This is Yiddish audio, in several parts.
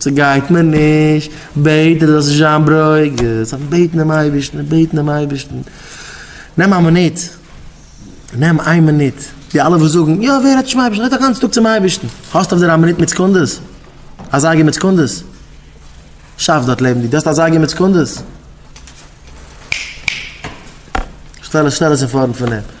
ס'גייט מיר נישט, בעט ער זאלסט נישט זיין ברוגז, זיך בעטן דעם אייבערשטן און בעטן דעם אייבערשטן, נעם א מינוט, נעם איין מינוט, די אלע וואס זאגן, יא ווער רעדט נישט צום אייבערשטן, רעד א גאנצן טאג צום אייבערשטן, האסט אויף דיר א מינוט מיט סעקונדעס? א זייגער מיט סעקונדעס? שאף דארט לעבן דיר, דו האסט א זייגער מיט סעקונדעס? שטעל עס אין פארנט פון אים.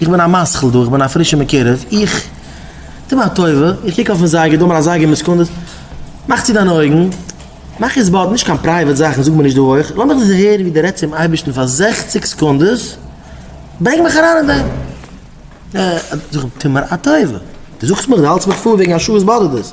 איך בין א משכיל דא, איך בין א פרישער מקורב, איך טו מיר א טובה, איך קוק אויפן זייגער, דא מיר א זייגער מיט סעקונדעס, מאך צו דיינע אויגן, מאך עס באט, נישט קיין פרייוועט זאכן, זאג מיר נישט דא אויך, לאמיך דאס הערן ווי דו רעדסט צום אייבערשטן פאר זעכציק סעקונדעס, ברענג מיך אריין אין דעם. אה, זאג איך, טו מיר א טובה, דו זאגסט מיך, דו האלטסט מיך פאר וועגן א שעה וואס באדערט דאס?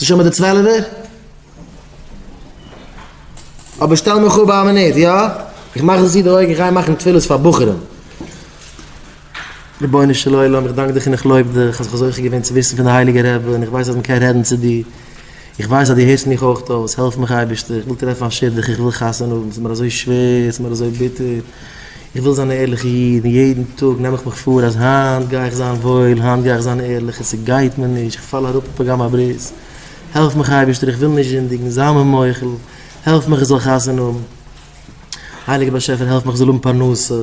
איז שוין מיט די צוועלעווער? אבער שטעל מיך אפ ביי א מינוט, יא? איך מאך זיך צו די אויגן, איך גיי מאכן תפילות פאר בחורים. רבונו של עולם, איך דאנק דיך און איך לויב דיך אז כ'האב זוכה געווען צו וויסן פון די הייליגע רבי און איך ווייס אז מ'קען רעדן צו דיר. איך ווייס אז דו הערסט מיך אויך אויס, העלף מיך אייבערשטער, איך וויל טרעפן א שידוך, איך וויל חתונה האבן, ס'איז מיר אזוי שווער, ס'איז מיר אזוי ביטער, איך וויל זיין א ערליכע איד, און יעדן טאג נעם איך מיך פאר אז היינט גיי איך זיין וואויל, היינט גיי איך זיין ערליך, און ס'גייט מיר נישט, איך פאל אראפ אין פגם הברית, העלף מיך אייבערשטער, איך וויל נישט זינדיגן, זיי מיר מוחל, העלף מיך איך זאל חתונה האבן, הייליגער באשעפער העלף מיך איך זאל האבן פרנסה.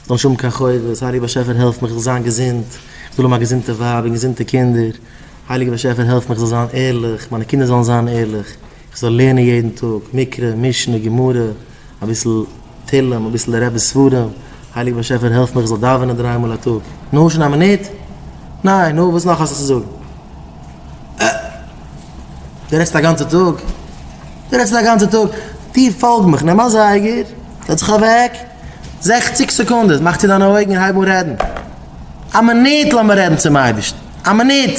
זאל נישט האבן קיין חובות, הייליגער באשעפער העלף מיך איך זאל זיין געזונט, איך זאל האבן א געזונטע ווייב און געזונטע קינדער, הייליגער באשעפער העלף מיך איך זאל זיין ערליך, מיינע קינדער זאלן זיין ערליך, איך זאל לערנען יעדן טאג מקרא, משנה, גמרא, אביסל תהלים, אביסל די רב'ס ספרים, הייליגער באשעפער העלף מיך איך זאל דאווענען דריי מאל א טאג. נו, שוין א מינוט? ניין, נו, וואס נאך האסטו צו זאגן? אה! דו רעדסט א גאנצע טאג? דו רעדסט א גאנצע טאג? טו פאלג מיך, נעם א זייגער, זעץ זיך אוועק. זעכציק סעקונדעס, מאך צו דיינע אויגן און הייב אן רעדן. א מינוט לאמיר רעדן צום אייבערשטן. א מינוט!